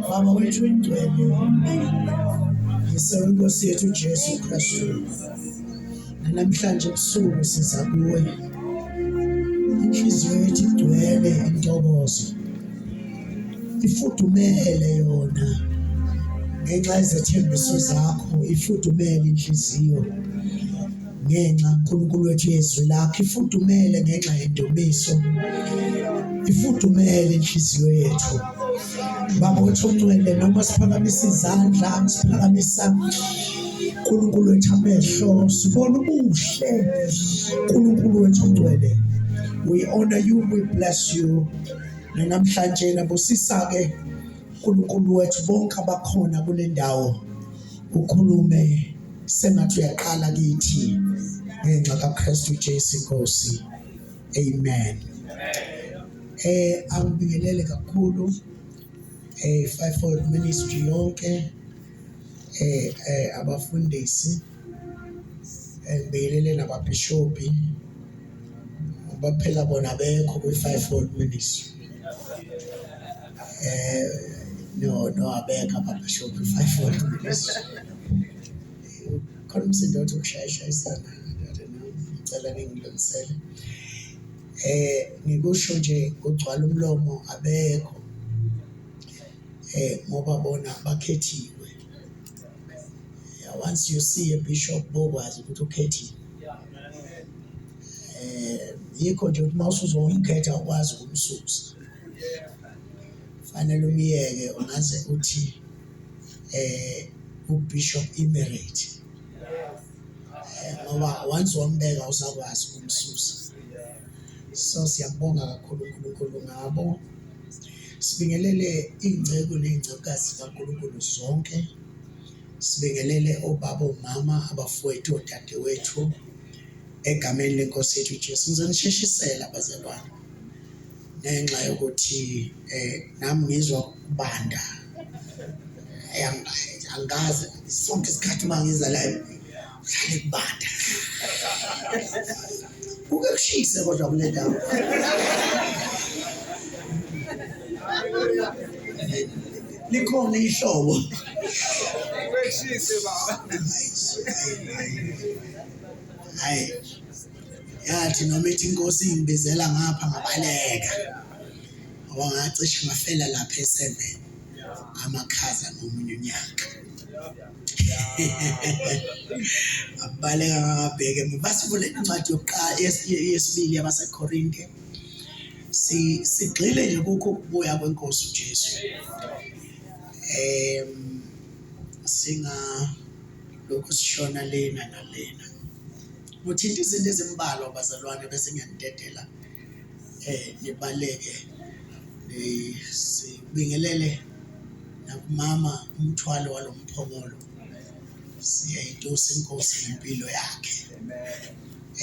Mama wethu ingcwele ngisenkosi yethu Jesu Kristu namhlanje ebusuku siza kuwe inhliziyo yethu igcwele intokozo ifudumele yona ngenxa yezethembiso zakho ifudumele inhliziyo ngenxa uNkulunkulu wethu yezwi lakhe ifudumele ngenxa yendumiso ifudumele inhliziyo yethu baba wethu ongcwele noma siphakamisa izandla siphakamisa uNkulunkulu wethu amehlo sibona ubuhle uNkulunkulu wethu ongcwele we honor you we bless you namhlanje nabusisa ke uNkulunkulu wethu bonke abakhona kule ndawo ukhulume sengathi uyaqala kithi ngenxa kaKristu Jesu Nkosi amen eh angibingelele kakhulu eh fivefold ministry yonke eh, eh abafundisi ngibingelele eh, nababhishopi baphela bona bekho kwi-fivefold ministry nowabeka ababhishobhi five wonke khona umsindo othi ukushayashayisana ngicela ningilungisele eh ngikusho nje kugcwala umlomo abekho eh ngoba bona bakhethiwe yeah, once you see a bishop bokwazi ukuthi ukhethiwe eh yikho nje ukuthi mawusuzomkhetha ukwazi ukumsusa Fanele umyeke ungaze uthi eh uBishop Emirate. Eh, ngoba once wambeka usakwazi ukumsusa. So siyabonga kakhulu uNkulunkulu ngabo. Sibingelele ingceku nezingcekazi kaNkulunkulu zonke. Sibingelele obaba omama abafowethu odadewethu egameni lenkosi yethu Jesu. Ngizonisheshisela bazalwane. ngenxa yokuthi eh nami ngizwa ukubanda angikaze sonke isikhathi uma ngiza la ngihlale kubanda kuke kushise kodwa kule ndawo likhona ihlobo Shise baba. hayi yathi noma ithi inkosi ingibizela ngapha ngabaleka ngoba ngacishe ngafela lapha eseven amakhaza nomunye unyaka abaleka ngabheke basivule incwadi yokuqala yesibili yabasekorinte sigxile nje kukho ukubuya kwenkosi ujesu um singa lokhu sishona lena nalena Nguthinta izinto ezimbalwa bazalwane bese ngiyanidedela eh nibaleke eh, sibingelele nakumama umthwalo walomphongolo siyayitusa inkosi ngempilo yakhe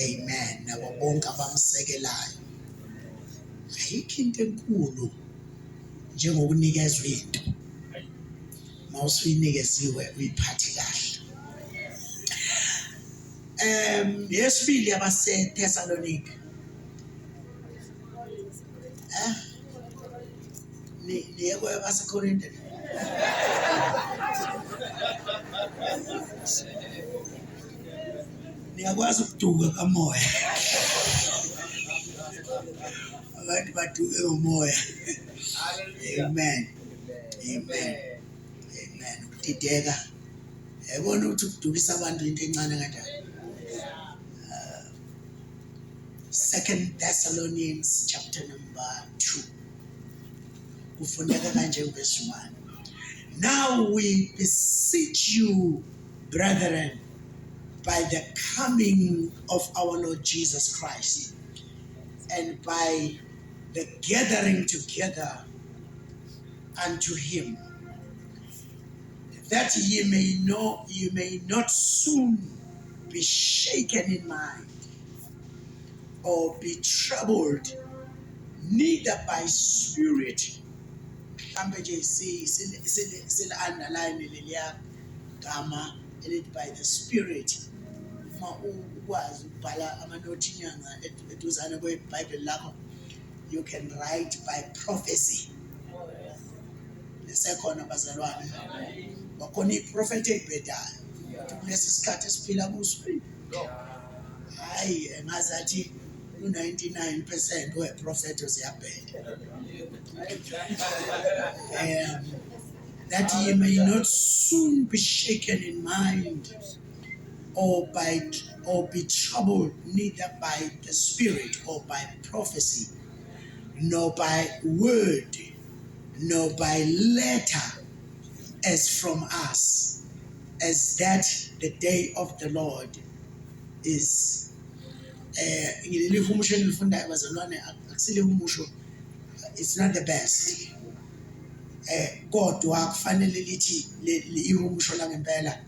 amen nabo bonke abamsekelayo ayikho into enkulu njengokunikezwa into mawusuyinikeziwe uyiphathe kahle Um yesibili yabaseThesalonika. Eh? Ni niye kwabaseKorinte. Niyakwazi ukuduka kamoya. Abantu baduke ngomoya. Amen. Amen. Amen. Ukudideka yayibona ukuthi ukudukisa abantu into encane kanjani. Uh, Second Thessalonians chapter number 2 kufuneka kanje verse 1 Now we beseech you brethren by the coming of our Lord Jesus Christ and by the gathering together unto him that ye may know you may not soon be shaken in mind or be troubled neither by spirit mhlambe nje sile underline leliya gama elithi by the spirit uma ukwazi ukubhala amanothi inyanga eduzane kwebhayibheli lakho you can write by prophecy lisekhona bazalwane bakhona iprofethi elibhedayo ukuthi kulesi sikhathi esiphila kuso hhayi engaze athi u-99 percent weprofethi ziyabheda um that ye may not soon be shaken in mind or by or be troubled neither by the spirit or by prophecy nor by word nor by letter as from us as that the day of the lord is eh ngileli humusho enilifundayo bazalwane akusile umusho it's not the best eh kodwa kufanele lithi ihumusho langempela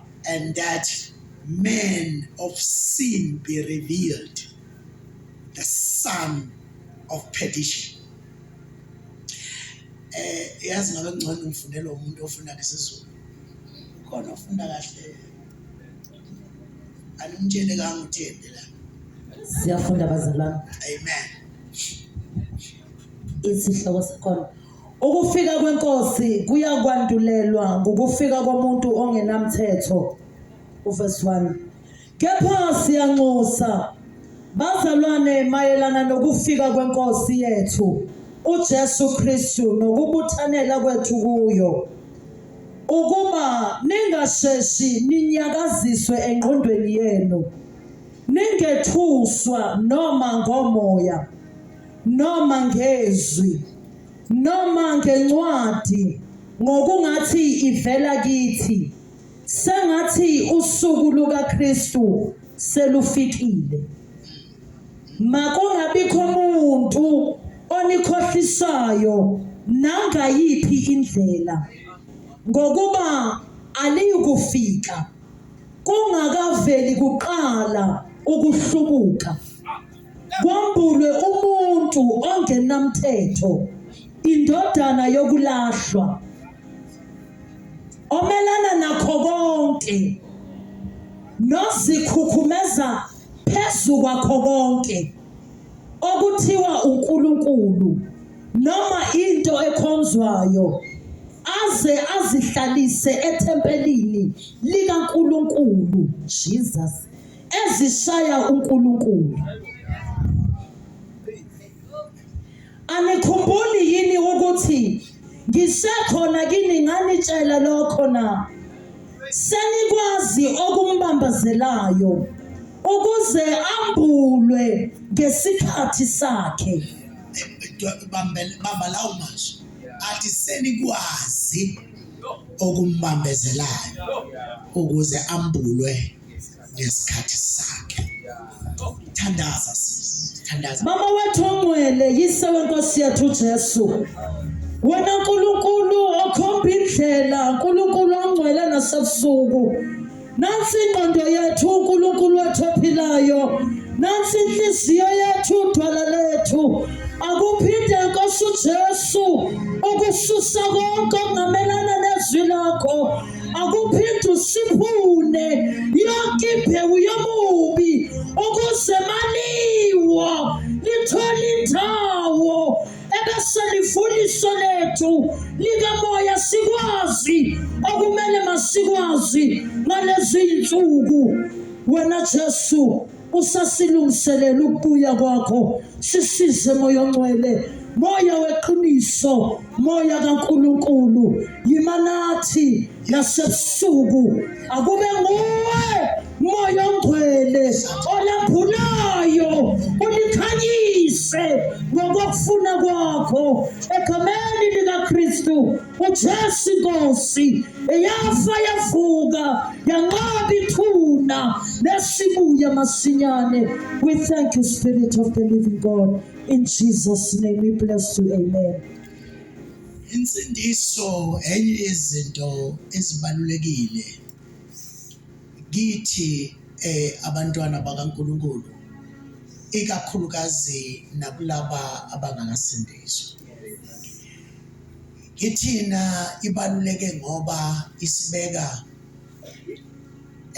And that man of sin be revealed, the son of perdition. Eh yazi ngabe ngcono ngifundela umuntu ofunda ngesizulu. Ukhona ofunda kahle. Animtshele kanga uthende la. Siyafunda bazalwane. Amen. Isihloko sakhona Ukufika kwenkosi kuyakwandulelwa ngokufika komuntu ongenamthetho. Uverse 1. Kepha siyanxusa bazalwane mayelana nokufika kwenkosi yethu uJesu Kristu nokubuthanela kwethu kuyo ukuba ningasheshi ninyakaziswe engqondweni yenu ningethuswa noma ngomoya noma ngezwi noma ngencwadi ngokungathi ivela kithi sengathi usuku lukaKristu selufikile makungabikho umuntu onikhohlisayo nangayiphi indlela ngokuba aliyukufika kungakaveli kuqala ukuhlubuka Kwambulwe umuntu ongenamthetho, indodana yokulahlwa, omelana nakho konke, nozikhukhumeza phezu kwakho konke, okuthiwa uNkulunkulu noma into ekhonzwayo aze azihlalise ethempelini likaNkulunkulu Jesus ezishaya uNkulunkulu. Anikhumbuli yini ukuthi ngisekhona kini nganitshela lokho na? Senikwazi okumbambazelayo ukuze ambulwe ngesikhathi sakhe. Bamba lawo mazwi athi senikwazi okumbambezelayo ukuze ambulwe ngesikhathi sakhe thandaza thandaza mama wethu ongcwele yise wenkosi yethu Jesu wena nkulunkulu okhomba indlela nkulunkulu ongcwele nasebusuku nansi ingqondo yethu unkulunkulu wethu ophilayo nansi inhliziyo yethu udwala lethu akuphinde nkosi ujesu ukususa konke okungamelana nezwi lakho akuphinde usiphune yonke imbewu yomubi ukuze maliwo lithole indawo ebeselifundiso lethu likamoya sikwazi okumele masikwazi ngalezi nsuku wena Jesu usasilungiselela ukubuya kwakho sisize moya ongcwele moya weqiniso moya kaNkuluNkulu yima nathi nasebusuku akube nguwe moya ongcwele olaphulayo ulikhanyise ngokufuna kwakho egameni likaKristu uJesu inkosi eyafa yavuka yanqaba ithuna nesibuye masinyane we thank you spirit of the living god in jesus name we bless you amen insindiso enye yezinto ezibalulekile kithi eh abantwana bakaNkuluNkulu ikakhulukazi nakulaba abangakasindiswa Kithina ibaluleke ngoba isibeka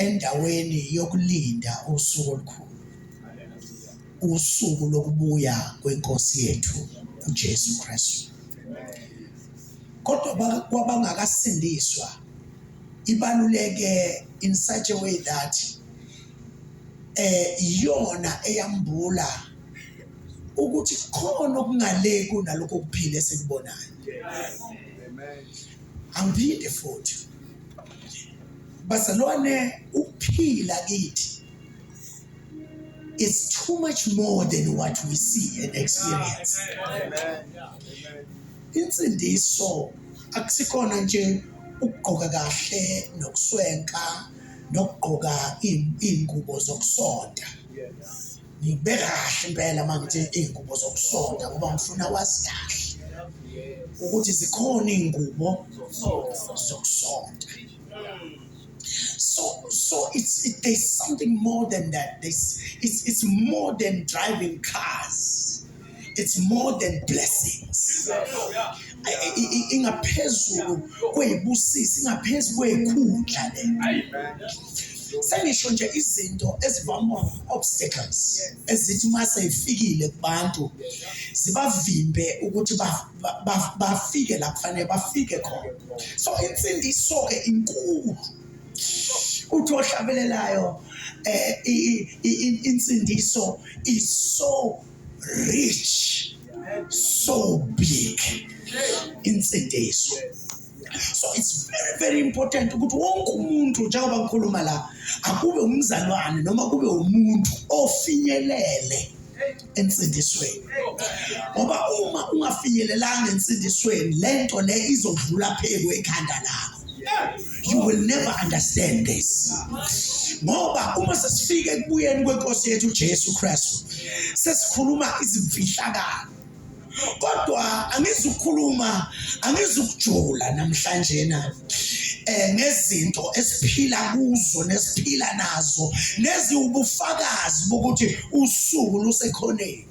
endaweni yokulinda usuku olukhulu, usuku lokubuya kwenkosi yethu uJesu Kristu. Kodwa kwabangakasindiswa ibaluleke in such a way that eh iyona eyambula ukuthi khona okungaleki kunalokho kuphila esikubonayo angiphinde futhi bazalwane ukuphila kithi is too much more than what we see and experience insindiso akusikhona nje ukugqoka kahle nokuswenka nokugqoka iy'ngubo zokusonta ngibeka kahle impela uma ngithi iy'ngubo zokusonta ngoba ngifuna wazi kahle ukuthi zikhona iy'ngubo zokusonta so so it's it, there's something more than that there's, it's, it's more than driving cars it's more than blessings ingaphezulu kweyibusisi ingaphezu kweyikhundla le sengisho nje izinto ezivamwa obstacles ezithi uma seyifikile kubantu zibavimbe ukuthi bafike la kufanele bafike khona so insindiso-ke inkulu uthi ohlabelelayo um insindiso iso rich so big insindiso so it's very very important ukuthi wonke umuntu njengoba ngikhuluma la akube umzalwane noma kube umuntu ofinyelele ensindisweni ngoba uma ungafinyelelanga ensindisweni lento le izodlula pheku ekhanda lakho you will never understand this ngoba uma sesifika ekubuyeni kwenkosi yethu uJesu Kristu sesikhuluma izimfihlakalo kodwa angizukhuluma angizukujula namhlanje na eh ngezinto esiphila kuzo nesiphila nazo neziwubufakazi bokuthi usuku lusekhoneni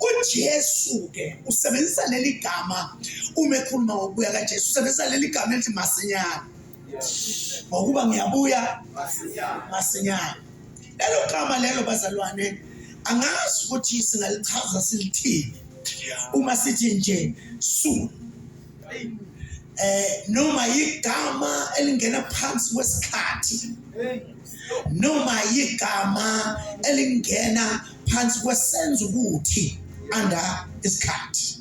uJesu ke usebenzisa leli gama uma ekhuluma ngokubuya kaJesu usebenzisa leli gama elithi masinyane ngokuba ngiyabuya masinyane lelo gama lelo bazalwane angazi ukuthi singalichaza silithini uma sithi nje soon eh noma igama elingena phansi kwesikhathi noma igama elingena phansi kwesenza ukuthi under isikhathi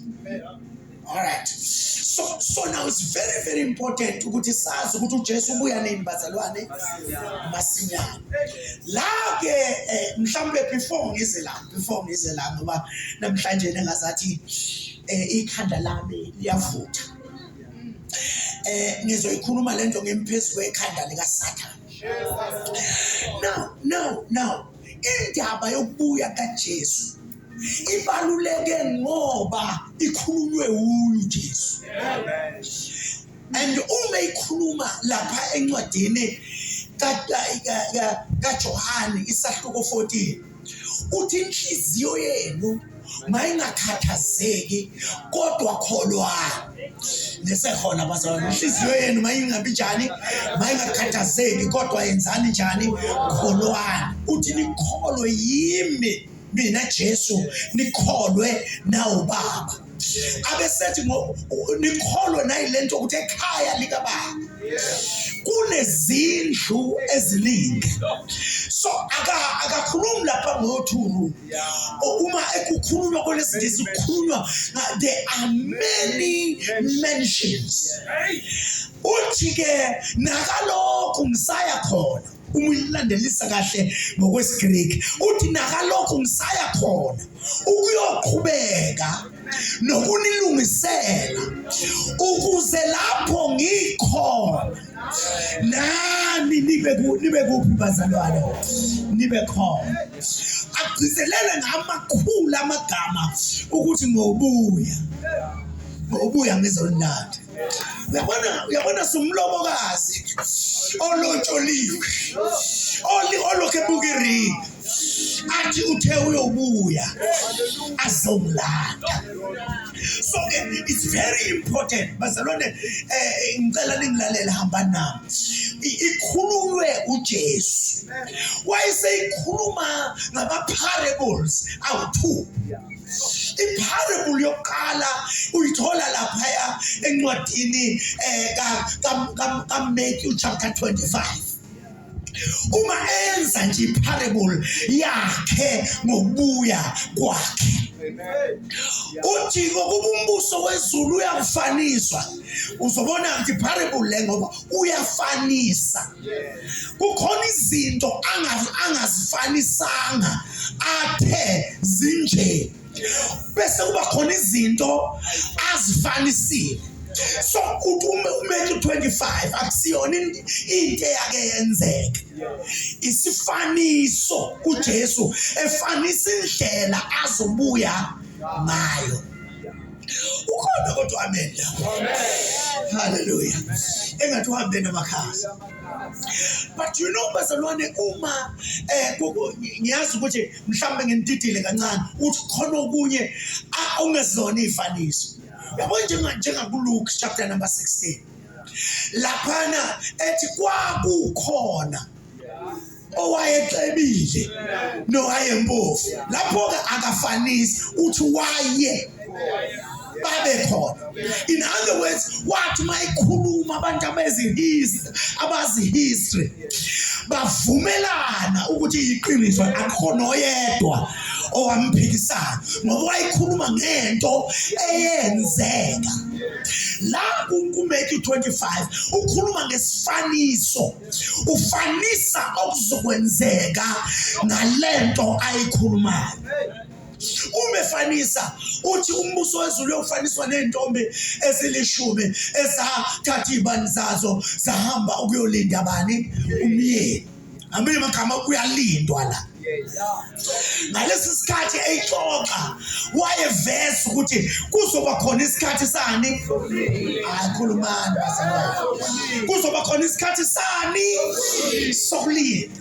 alright so so now it's very very important ukuthi sazi ukuthi uJesu ubuya nini bazalwane masinyana la ke eh, mhlawumbe before ngize la before ngize la ngoba namhlanje nengazathi eh, ikhanda lami liyavutha eh ngizoyikhuluma lento ngemphezu kwekhanda lika Satan now now now Indaba yokubuya kaJesu ibaluleke ngoba ikhulunywe wuyo uJesu. And uma ikhuluma lapha encwadini kaJohane isahluko 14 uthi inhliziyo yenu mayingakhathazeki kodwa kholwa nesekhona bazalwane inhliziyo yenu mayingabi njani mayingakhathazeki kodwa yenzani njani kholwani uthi nikholwe yimi mina Jesu nikholwe nawo baba abesethi nikholwe nayilento ukuthi ekhaya lika baba kunezindlu eziningi so akakhulumi lapha ngothuru uma ekukhulunywa kwelesingisi kukhulunywa there are many mentions uthi-ke nakalokhu ngisaya khona uma uyilandelisa kahle ngokwesigriki uthi nakalokhu ngisaya khona ukuyoqhubeka nokunilungisela ukuze lapho ngikhona nani nibe nibe kuphi bazalwane nibe khona agcizelele ngamakhulu amagama ukuthi ngobuya ngobuya ngizolanda uyabona uyabona sumlobokazi olontsholiwe olokhe bukiringi athi uthe uyobuya azomlanda so ke it's very important bazalwane eh ngicela ningilalela hamba nami ikhululwe uJesu wayeseyikhuluma ngama parables awu2 iparable yokuqala uyithola laphaya encwadini eh ka ka ka Matthew chapter 25 uma enza nje iparable yakhe ngokubuya kwakhe ujiko kuba umbuso wezulu uyakufanisa uzobona ukuthi parable le ngoba uyafanisa kukhona izinto angazifanisanga athe zinje bese kuba khona izinto azifanisile so uthi uma umeke 25 akusiyona into eyake yenzeke isifaniso kuJesu efanisa indlela azobuya ngayo ukhona kodwa amen haleluya engathi uhambe namakhasi but you know bazalwane uma eh ngiyazi ukuthi mhlawumbe nginididile kancane uthi khona okunye ongezona iy'faniso yabo njengakuluke chapter number 16 laphana ethi kwakukhona owayecebile nowayempofu lapho-ke akafanisi uthi waye babe khona in other words wathi uma ekhuluma abantu abezihistory abazi history bavumelana ukuthi iqiniso akhona oyedwa owamphikisana ngoba wayekhuluma ngento eyenzeka la kuMeki 25 ukhuluma ngesifaniso ufanisa okuzokwenzeka ngalento ayikhulumayo uma efanisa uthi umbuso wezulu uyofaniswa nezintombi ezilishumi ezathatha ibani zazo zahamba ukuyolinda bani umyeni amanye amagama kuyalindwa la ngalesi sikhathi eyixoxa wayeveza ukuthi kuzoba khona isikhathi sani ayikhulumani bazalwane kuzoba khona isikhathi sani sokulinda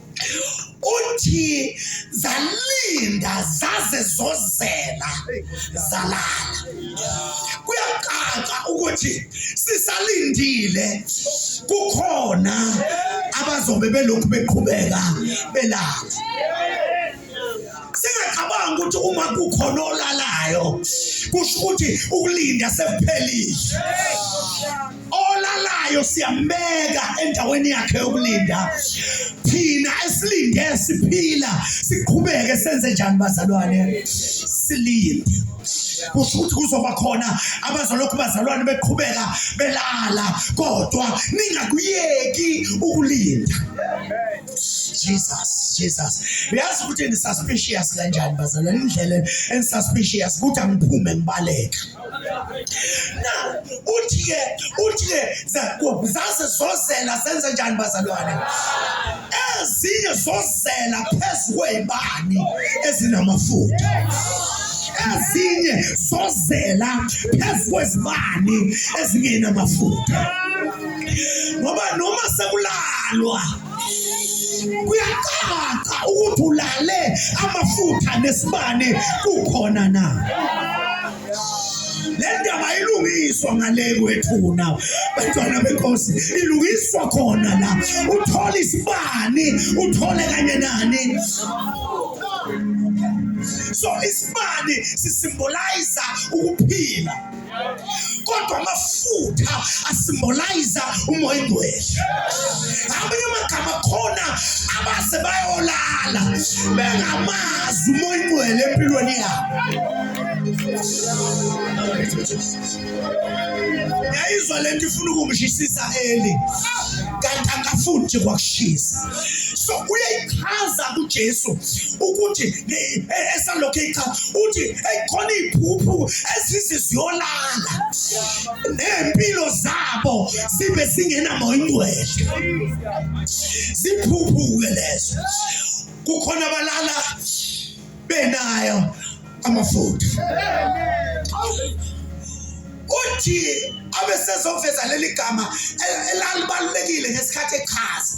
uthi zalinda zaze zozela zalala kuyacaca ukuthi sisalindile kukhona abazobe belokhu beqhubeka belala singacabanga ukuthi uma kukhona olalayo kusho ukuthi ukulinda sekuphelile olalayo siyambeka endaweni yakhe yokulinda thina esilinde siphila siqhubeke senze njani bazalwane silinde kusho ukuthi kuzoba khona abazolokhu bazalwane beqhubeka belala kodwa ningakuyeki ukulinda Jesus Jesus uyazi ukuthi ni suspicious kanjani bazalwa indlela en suspicious ukuthi angiphume ngibaleka na uthi ke uthi ke zaze zozela senze njani bazalwane ezinye zozela phezulu kwezibani ezinamafutha ezinye zozela phezulu kwezibani ezingenamafutha ngoba noma sekulalwa kuyacaca ukuthi ulale amafutha nesibane kukhona na le ndaba ilungiswa ngale kwethuna bantwana benkosi ilungiswa khona la uthole isibani uthole kanye nani so isibani sisimboliza ukuphila kodwa amafutha asimbolayiza umoya ingcwele ngamanye amagama khona abaze bayolala bengamazi umoya ingcwele empilweni yabo yayizwa le nto ifuna ukungishisisa eli kanti angafuni nje kwakushisa so uyayichaza kujesu ukuthi esalokhu eyicha uthi eyikhona iphuphu ezithi ziyolala nempilo zabo sibe singenamoya ingcwele ziphuphuke lezo kukhona abalala benayo amafutha uthi abesezoveza leli gama elalibalulekile ngesikhathi echaza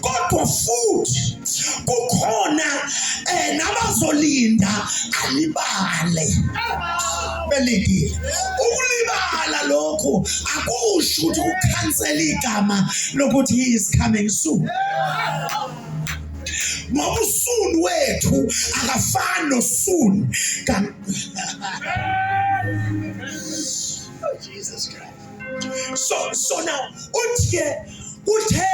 kodwa futhi kukhona eh nabazolinda alibale belindile ukulibala lokhu akusho ukuthi ukhansela igama lokuthi he is coming soon ngoba usuni wethu akafani nosuni oh, Jesus Christ so so now uthi ke uthe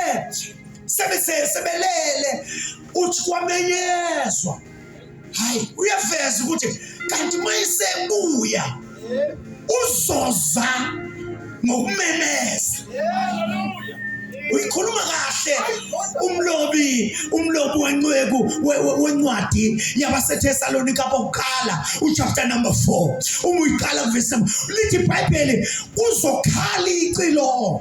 sebelele uthi kwamenyezwa hayi uyaveza ukuthi kanti uma isebuya uzoza ngokumemeza uyikhuluma kahle umlobi umlobi wenceku wencwadi yabaseThesalonika bokuqala uchapter number 4 uma uyiqala kuvesi lithi ibhayibheli kuzokhala icilo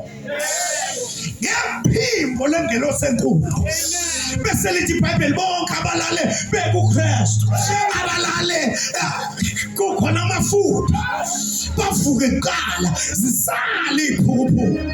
ngephimbo lengelosi enkulu bese lithi ibhayibheli bonke abalale bekukristu abalale eh, kukhona amafutha bavuke kuqala zisale iphukuphuku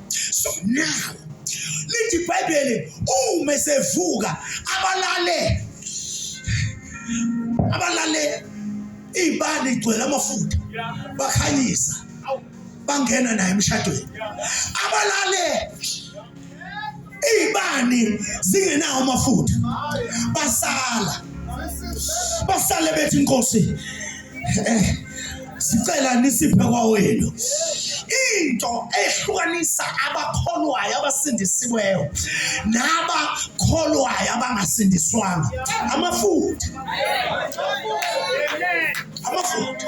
so now lithi ibhayibheli uma esevuka abalale abalale iy'bani igcwele amafutha bakhanyisa bangena naye emshadweni abalale Izibani zingenawo amafutha. Basala. Basale bethi inkosi eh sicela nisiphe kwawenu. into ehlukanisa abakholwayo abasindisiweyo nabakholwayo abangasindiswanga amafutha amafutha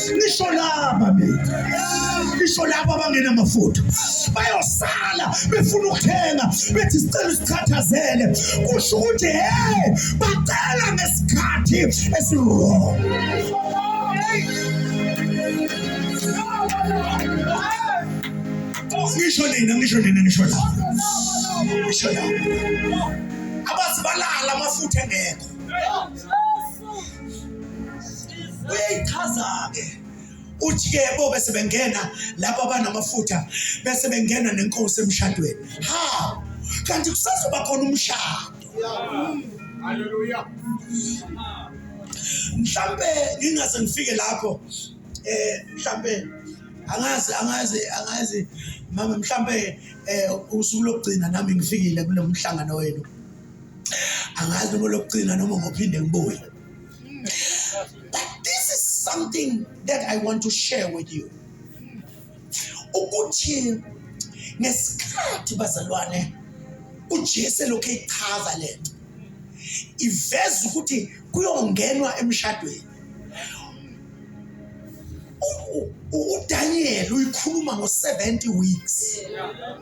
ngisho laba mina ngisho laba abangenamafutha bayosala befuna ukuthenga bethi sicela usikhathazele kusho ukuthi hey bacela ngesikhathi esiwrong ngisho nina ngisho nina ngisho la ngisho la abazibalala amafutha engekho uyayichaza-ke uthi-ke bo oh, bese bengena lapho abanamafutha bese bengena nenkosi emshadweni ha kanti kusazoba khona umshado haleluya mhlambe ngingaze ngifike lapho eh mhlambe angazi angazi angazi mama mhlambe eh usuku lokugcina nami ngifikile kulomhlangano wenu angazi noma lokugcina noma ngophinde ngibuye but this is something that i want to share with you ukuthi ngesikhathi bazalwane ujesu elokhu eyichaza le nto iveza ukuthi kuyongenwa emshadweni udaniel uyikhuluma ngo-70 weeks yeah.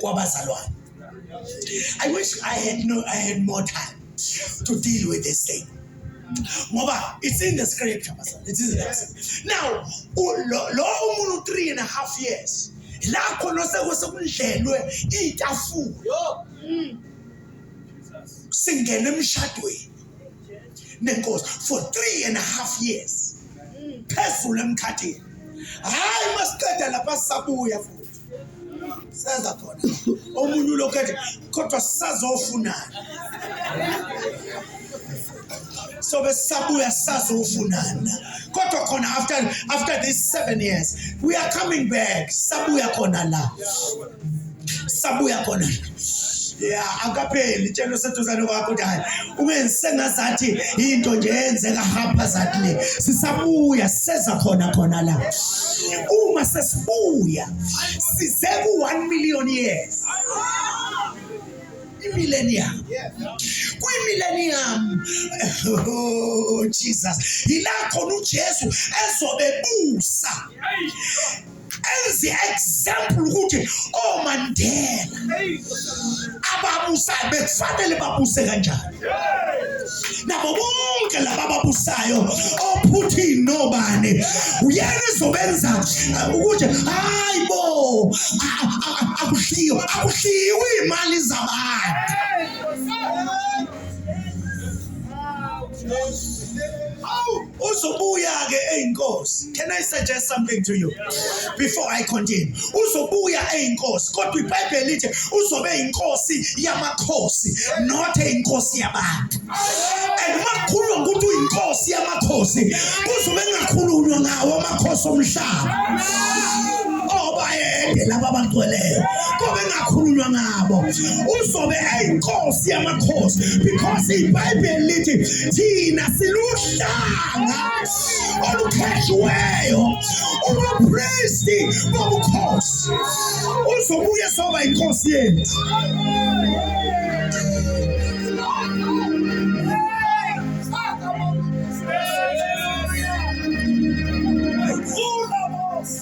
kwabazalwane. I wish I had no I had more time to deal with this thing. Ngoba it's in the scripture bazalwane. It is in the scripture. Now u- lo lo umuntu 3 and a half years la khona sekuse kundlelwe itafula singena emshadweni nenkosi for three and a half years phezulu emkhathini hayi masiqeda lapha sisabuya futhi senza khona omunye ulokhu ethi kodwa sisazofunani sobe sisabuya sisazofunana kodwa khona after after these seven years we are coming back sisabuya khona la sabuya khona ya akapheli tshelo seduzane kwakho ukuthi hayi ungenzi sengazathi into nje yenzeka haphazard le sisabuya siseza khona khona la uma sesibuya size ku-one million years imillennium kwimillennium oh jesus yila khona ujesu ezobebusa as example ukuthi omandela ababusayo bekufanele babuse kanjani nabo bonke laba babusayo ophuthini nobani uyena ezobenza uh, ukuthi hayi bo akuhliyo akuhliwe imali zabantu Oh! uzobuya-ke eyinkosi can i suggest something to you before i continue uzobuya eyinkosi kodwa ibhayibheli lithi uzobe eyinkosi yamakhosi not eyinkosi yabantu and uma kukhulunywa ngokuthi uyinkosi yamakhosi kuzobe kungakhulunywa ngawo amakhosi omhlaba obayede laba abangcweleyo akhulunywa ngabo uzobe eyinkosi yamakhosi because ibhayibheli lithi thina siluhlanga olukhethiweyo ubupristi bobukhosi uzobuye soba inkosi yethu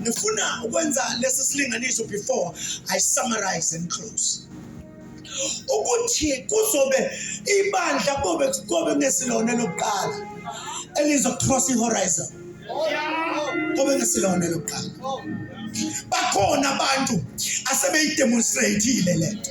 ngifuna ukwenza lesi silinganiso before i summarize and close ukuthi kuzobe ibandla kobe kobe ngesilone lokuqala elizocross ihorizon kobe ngesilone lokuqala bakhona abantu asebeyidemonstrateile lento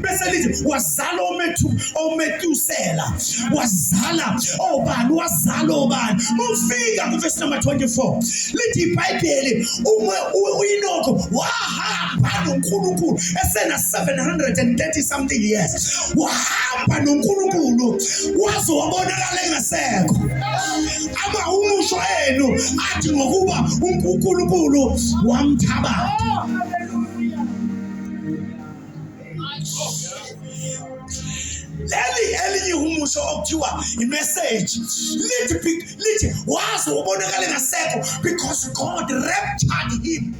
bese lithi wazala omethu ometusela wazala obani wazala obani mufika kuvesi number 24 lithi ibhayibheli uma uyinokho wahamba nonkulunkulu esena 730 something years wahamba nonkulunkulu waze wabonakala engasekho ama umusho enu athi ngokuba unkulunkulu wamthabatha leli elinye ihumusho okuthiwa imeseji lithi be- lithi waze ubonakale ngasekho because god raptured him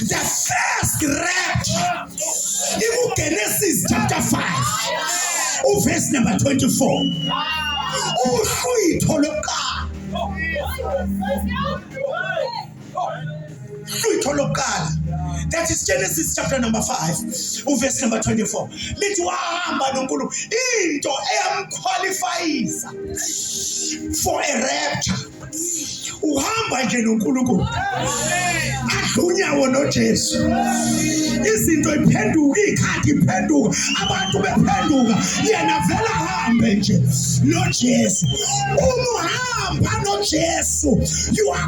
the first rapture ikugenesis chapter 5 uverse number 24 uhlwitho lokuqala Hlwitho lokuqala that is Genesis chapter number 5 uverse number 24 lithi wahamba noNkulunkulu into eyamqualifyisa for a rapture uhamba nje noNkulunkulu adlunyawo noJesu izinto iphenduka ikhadi iphenduka abantu bephenduka yena vela hambe nje noJesu uma uhamba noJesu you are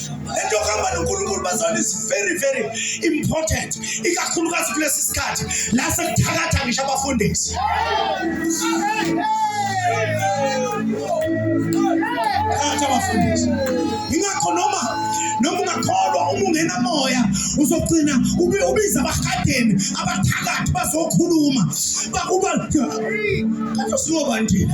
lento yokuhamba nonkulunkulu bazalwane is very very important ikakhulukazi kulesi sikhathi la sekuthakatha ngisho abafundisi phakathi abafundisi yingakho noma noma ungakholwa uma ungenamoya uzogcina ubiza abahadeni abathakathi bazokhuluma bakuba kanti singobanjini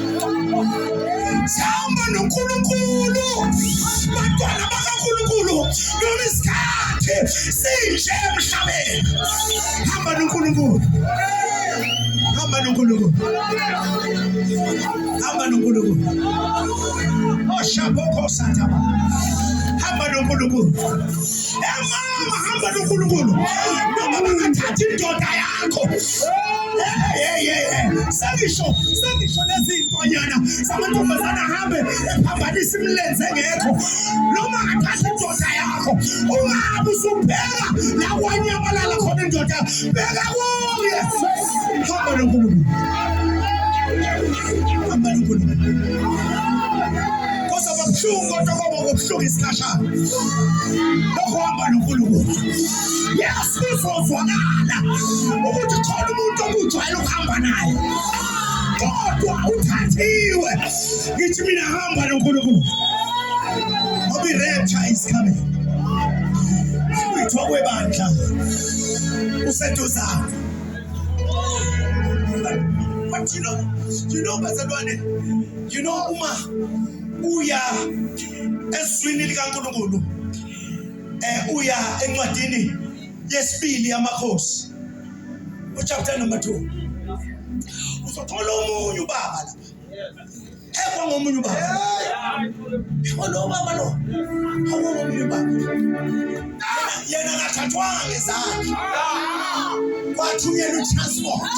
sihamba noNkulunkulu bantwana bakaNkulunkulu noma isikhathi sinje emhlabeni hamba noNkulunkulu hamba noNkulunkulu hamba noNkulunkulu oshabokho oh, sathaba hamba noNkulunkulu emama hamba nonkulunkulu noma bangathathi indoda yakho sengisho sengisho nezintonyana zamantombazane ahambe ephambanisa imilenze engekho noma athathe indoda yakho ungahambi usuphela la kwanyamalala khona indoda beka kuye hamba nonkulunkulu hamba nonkulunkulu Kwabuhlungu kodwa kwaba kubuhlungu isikhashana. Lokho hamba noNkulunkulu. Yes, kuzozwakala ukuthi khona umuntu okujwayele ukuhamba naye. Kodwa uthathiwe. Ngithi mina hamba noNkulunkulu. Ngoba i-rapture is coming. Kuthiwa kwebandla useduzane. But you know, you know, Bazalwane, you know uma uya ezwini likaNkulunkulu eh uya encwadini yesibili yamakhosi uchapter number 2 uzothola omunye ubaba lapha ekwa ngomunye ubaba ekwa lo baba lo awomunye ubaba yena akathathwanga ngezandla kwathunyelwa itransport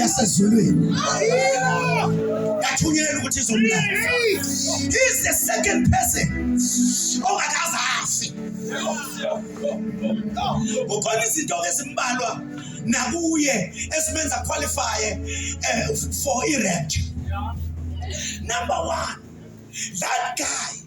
yasezulwini yathunyelwa ukuthi izomlanda he's the second person ongakaze afi kukhona izinto ezimbalwa nakuye esimenza qualify eh, for irent number one that guy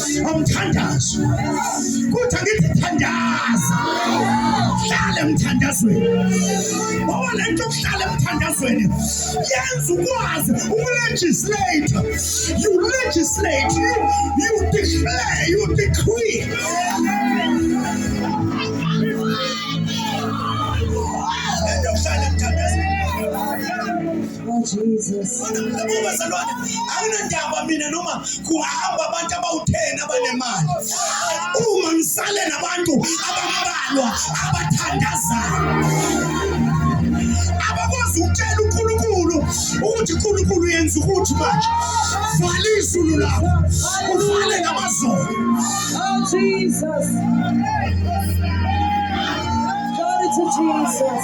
umthandazo kuthi angithi thandaza hlala emthandazweni ngoba le nto yokuhlala emthandazweni yenza ukwazi ukulegislate you legislate you, you declare you decree Oh Jesus. Bazalwane, anginandaba mina noma kuhamba abantu abawutheni abanemali. Uma ngisale nabantu abambalwa abathandazayo. Abakwazi ukutshela uNkulunkulu ukuthi uNkulunkulu yenza ukuthi manje vala izulu lakho uvale namazulu. Oh Jesus. Glory to Jesus.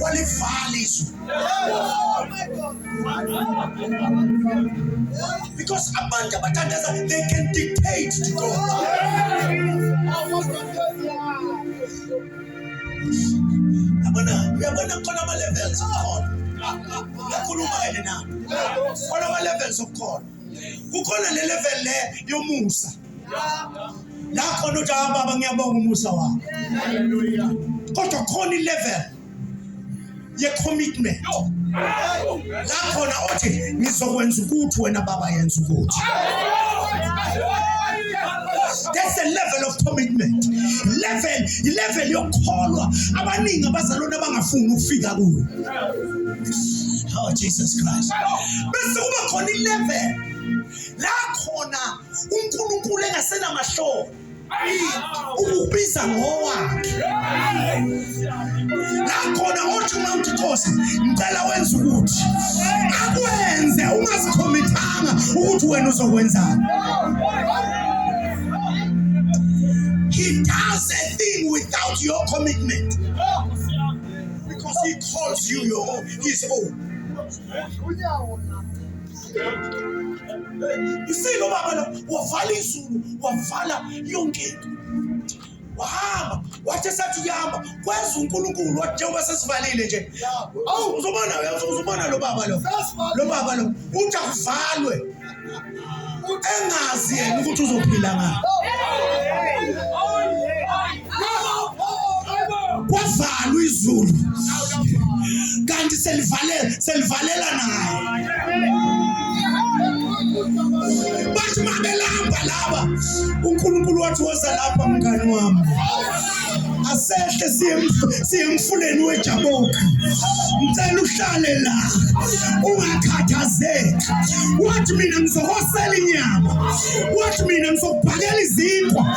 walivala izwi because abantu abathandaza they can dictate to God yabona yabona khona ama-levels akhona yakhuluma yena nami khona ama-levels okukhona kukhona le level le yomusa la khona uthi hayi baba ngiyabonga umusa wakho kodwa khona ilevel ye-commitment la khona othi ngizokwenza ukuthi wena baba yenza ukuthi that's a level of commitment level ilevel yokukholwa abaningi abazalwane abangafuni ukufika kuyo oh jesus christ bese kuba khona ilevel la khona uNkulunkulu engasenamahloni ukubiza ngowakhe nakhona othi uma uthi nkosi ngicela wenza ukuthi akwenze ungazikhomithanga ukuthi wena uzokwenzani he does a thing without your commitment because he calls you your own, his own isile ubaba la wavala izulu wavala yonke into wahamba wathi esathi kuyahamba kwenza unkulunkulu wathi njengoba sesivalile nje awu uzobona uzobona lo baba lo lo baba lo uthi akuvalwe engazi yena ukuthi uzophila ngani kwavalwa izulu kanti selivalela selivalela naye bathi mabelamba laba uNkulunkulu wathi woza lapha mngani wami asehle siye emfuleni wejaboka ngicela uhlale la ungakhathazeki wathi mina ngizohosela inyama wathi mina ngizokubhakela izinkwa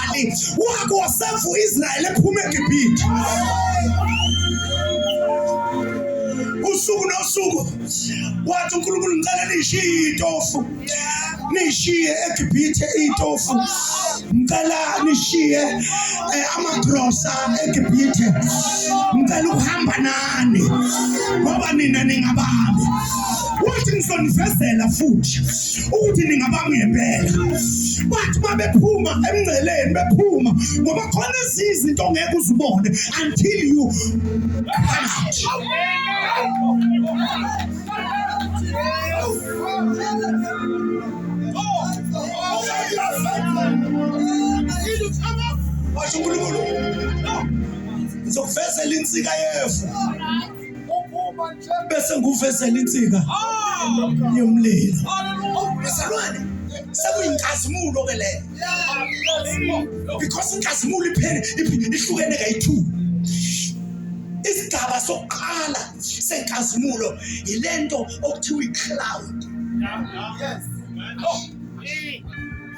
umzali wakho wasevu Israel ephuma eGibhithe usuku nosuku wathi uNkulunkulu ngicela nishiye itofu nishiye eGibhithe itofu ngicela nishiye eh, amagrosa eGibhithe ngicela ukuhamba nani ngoba nina ningabami wathi ngizonivezela futhi ukuthi ningabami ngempela bathi babephuma emngceleni bephuma ngoba khona ezinye izinto ongeke uzibone until you washo unkulunkulu ngizokuvezela insika yefu bese nguvezela insika yomlilo isilwane sekuyinkazimulo ke leyo because inkazimulo iphele ihlukene kayi-two isigaba sokuqala senkazimulo yilento okuthiwa i-cloud yes. oh.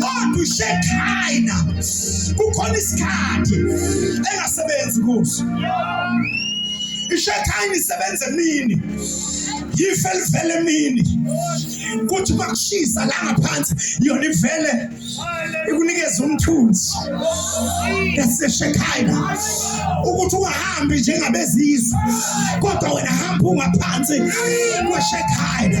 kodwa ushekhaina kukhona isikhathi engasebenzi kuso ishekhaina isebenza emini yife livele emini kuthi uma kushisa la ngaphansi yona ivele ikunikeza umthunzi eseshekhaina ukuthi ungahambi njengabezizwe kodwa wena hamba ungaphansi kweshekhaina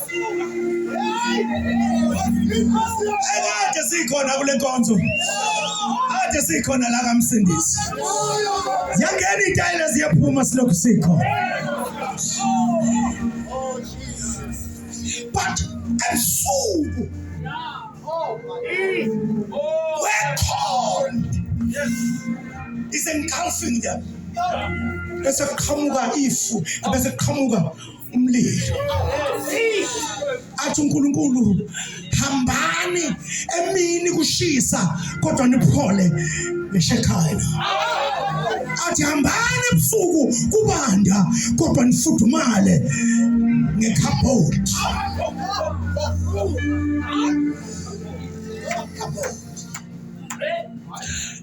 Ekade sikhona kule nkonzo. Kade sikhona la kamsindisi. Ziyangena itayela ziyaphuma silokhu sikho. But ebusuku we're cold. Is engulfing them. Bese kuqhamuka ifu, bese kuqhamuka umlilo athi uNkulunkulu hambani emini kushisa kodwa niphole ngeShekhaya athi hambani ebusuku kubanda kodwa nifudumale ngekhabhodi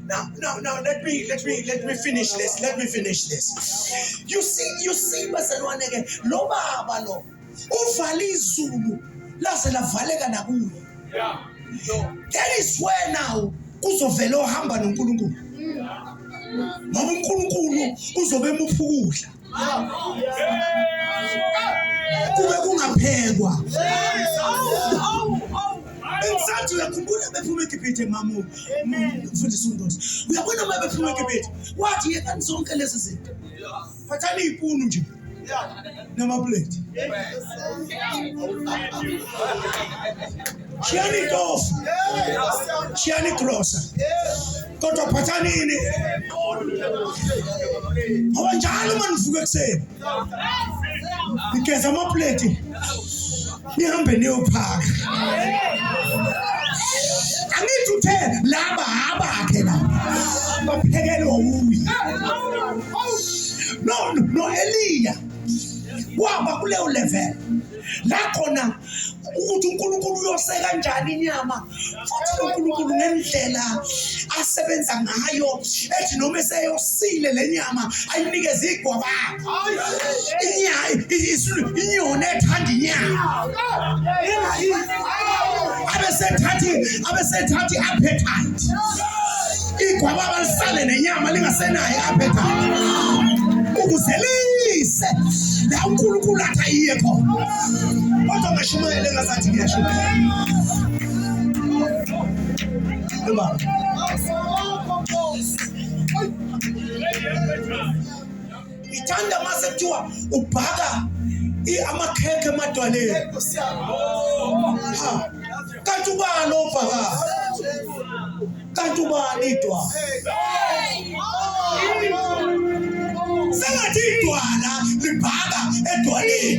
Now, now, now, let me, let me, let me finish this. Let me finish this. You see, you see, bazalwane ke lo baba lo uvala izulu laze lavaleka nakuye. Yeah. That is where now kuzovela ohamba noNkulunkulu. Ngoba uNkulunkulu uzobe emuphukudla. kube kungaphekwa bengisathi uyakhumbula bephuma egibhithe mamu mfundisa undosi uyabona uma bephuma egibhithe wathi yekani zonke lezi zinto phathani iy'punu nje namapleti Shiyani itofu, shiyani grosa, kodwa phathani ini ngoba njalo uma nivuka ekuseni nigeza amapleti nihambe niyophaka. Angithi uthe laba abakhe la baphekelwe wuye. No, no, Eliya waba kuleyo level la khona ukuthi uNkulunkulu uyose kanjani inyama futhi uNkulunkulu ngendlela asebenza ngayo ethi noma eseyosile le nyama ayinikeze igwabanga inyoni ethanda inyama abesethathi abesethathi appetite igwababa lisale nenyama lingasenayo apha ekhaya ukuze lise la unkulunkulu athi ayiye khona kodwa ngashumayele ngazathi ngiyashumayela Baba. Ngithanda mase kuthiwa ubhaka amakhekhe emadwaleni. Kanti ubani obhaka? kanti ubani idwala sengathi idwala libhaka edwaleni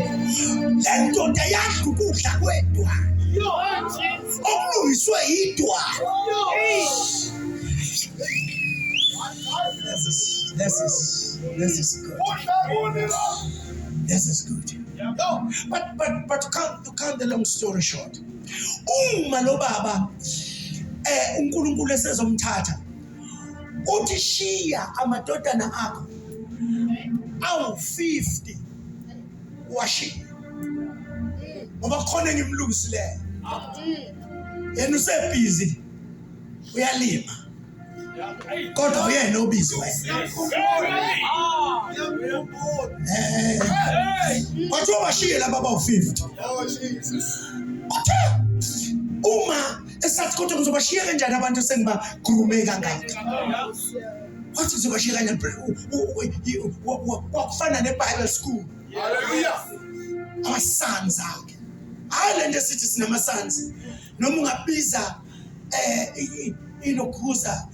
le ndoda yadla ukudla kwedwala okulungiswe yidwala This is this is this is good. This is good. But but but to cut to cut the long story short. uma lo baba eh uNkulunkulu esezomthatha uthi shiya amadodana akho awu 50 washiya ngoba khona engimlungisileyo yena usebhizi uyalima kodwa uyena obizwe kwathiwa bashiye laba bawu-fifty uthe uma esathi kodwa ngizobashiya kanjani abantu esengibakhulume kangaka wathi ngizobashiya kanjani kwakufana ne-bible school amasons akhe hhayi le nto esithi sinama-sons noma ungabiza eh inokhuza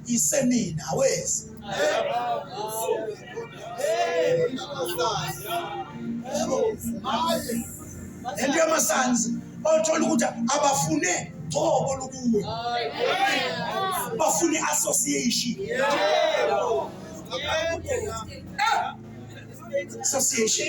isemina awezi lento yamasanzi othola ukuthi abafune gcobo lukuwe bafune association association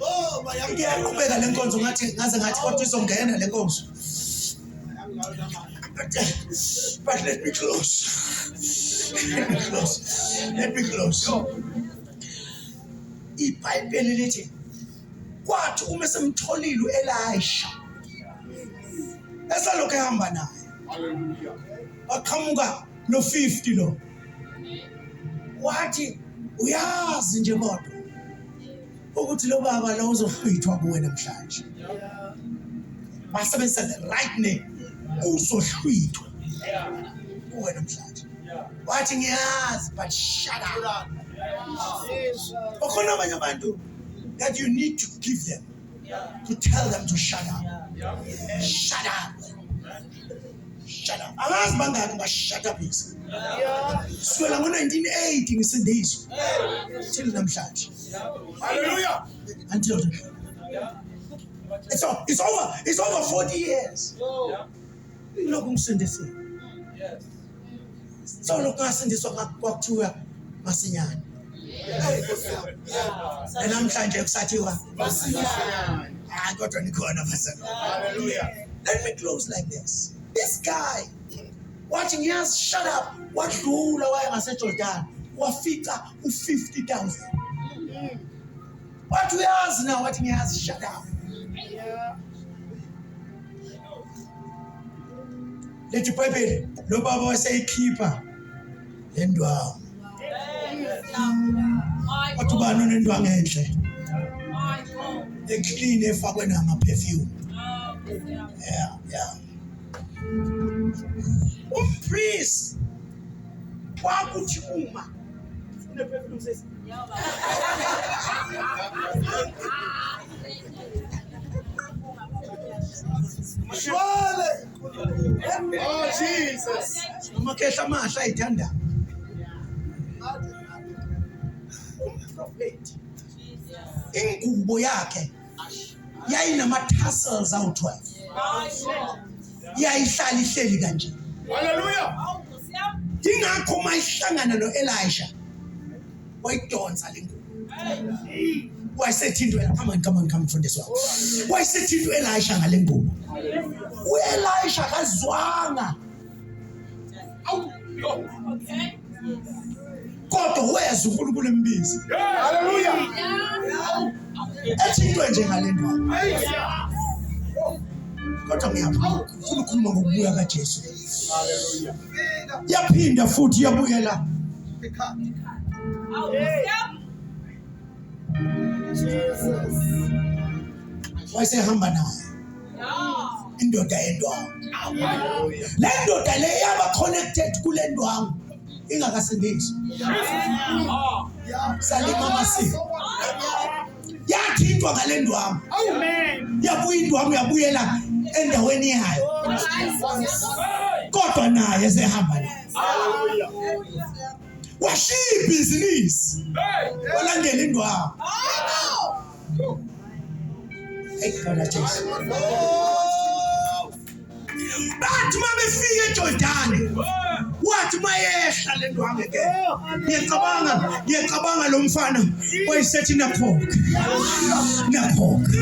Oh, bayamke yaqhubeka le nkonzo ngathi ngaze ngathi kodwa izongena le nkonzo. But, but let me close. Let me close. Let me close. IBhayibheli lithi kwathi uma esemtholile uElisha esalokhu ehamba naye. Hallelujah. Waqhamuka no 50 lo. wathi uyazi nje kodwa ukuthi lo baba lo uzohlwithwa kuwe namhlanje basebenzisa the right name uzohlwithwa kuwe namhlanje wathi ngiyazi but shut up okhona abanye abantu that you need to give them to tell them to shut up shut up shut up angazi bangaki bashut up yisi kusukela ngo-1980 ngisindizwe till namhlanje haleluya until it's, all, it's over it's over 40 years lokhu ngisindisiwe Solo kasindiswa kwakuthiwa masinyane. Namhlanje kusathiwa masinyane. Hayi kodwa nikhona phezulu. Hallelujah. Let me close like this. This guy wathi ngiyazi shut up wadlula waya ngaseJordan wafica u50,000. Wathi uyazi na wathi ngiyazi shut up. Yeah. Lithi iBhayibheli lo baba waseyikhipha le ndwangu. Wathi ubani onendwangu enhle? Eclean efakwe nama perfume. Yeah, yeah. Umpriest kwakuthi uma une perfume sesi. Shwale Oh Jesus. Amakhehla amahle ayithanda. Ingubo yakhe yayinama tassels awu-12. Yayihlala ihleli kanje. Hallelujah. Ingakho mayihlangana noElisha wayidonsa le ngubo wayesethintwela come on come on come mfundisi wami wayesethintwa elisha ngale ngubo uelisha kazwanga kodwa wezwa unkulunkulu embizi haleluya ethintwe nje ngale ndaba kodwa ngiyafuna ukukhuluma ngokubuya kajesu yaphinda futhi yabuyela wayesehamba naye indoda yendwangu le ndoda le yaba connected kule ndwangu ingakasindisi salima amasiko yathintwa ngale ndwangu yabuya indwangu yabuyela endaweni yayo kodwa naye esehamba naye washiya ibhizinisi walandela indwangu bathi uma befika ejordani wathi uma yehla le ndwange ke ngiyacabanga ngiyacabanga lo mfana wayesethi nakhokhe nakhokhe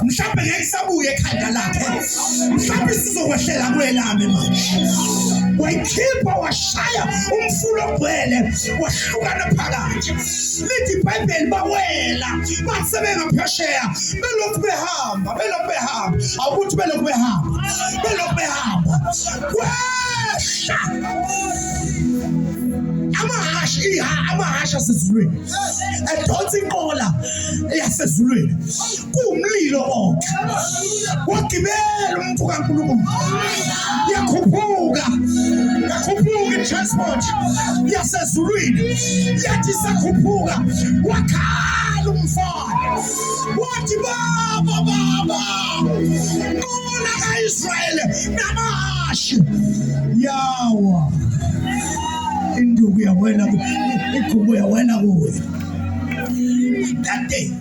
mhlawumbe ngeke sabuye ekhanda lakhe mhlawumbe sizokwehlela kwelami manje wayikhipha washaya umfula ogcwele wahlukana phakathi lithi ibhayibheli bawela basebenga phesheya belokhu behamba belokhu behamba awukuthi belokhu behamba belokhu behamba kwehla amahasha iha amahasha asezulwini edonsa inqola yasezulwini kuwumlilo konke wagibela umuntu kaNkulunkulu yakhuphuka yakhuphuka itransport yasezulwini yathi sakhuphuka wakhala umfana wathi baba baba nqola kaIsrayeli namashi yawa induku yawena igubo yawena kuyo that day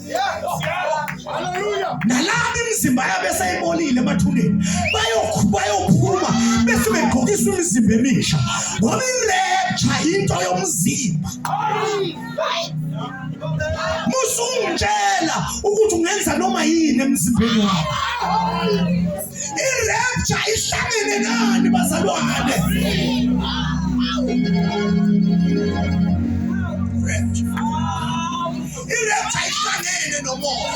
nalabo imizimba yabo eseyibolile emathuneni bayophuma bese begqokisa imizimba emisha ngoba ilepha into yomzimba musungitshela ukuthi ungenza noma yini emzimbeni wakho irepture ihlangene nani bazalwane irepha ihlangene nomoya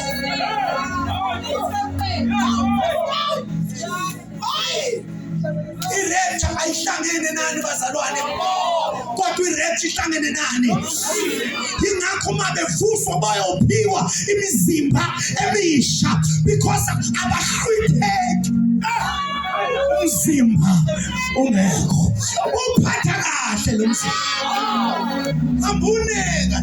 irepha ayihlangene nani bazalwane kodwa irepha ihlangene nani yingakho uma bevuswa bayophiwa imizimba emisha because abahlwitheki umzimba ungekho uphatha kahle lo mzimba hambuneka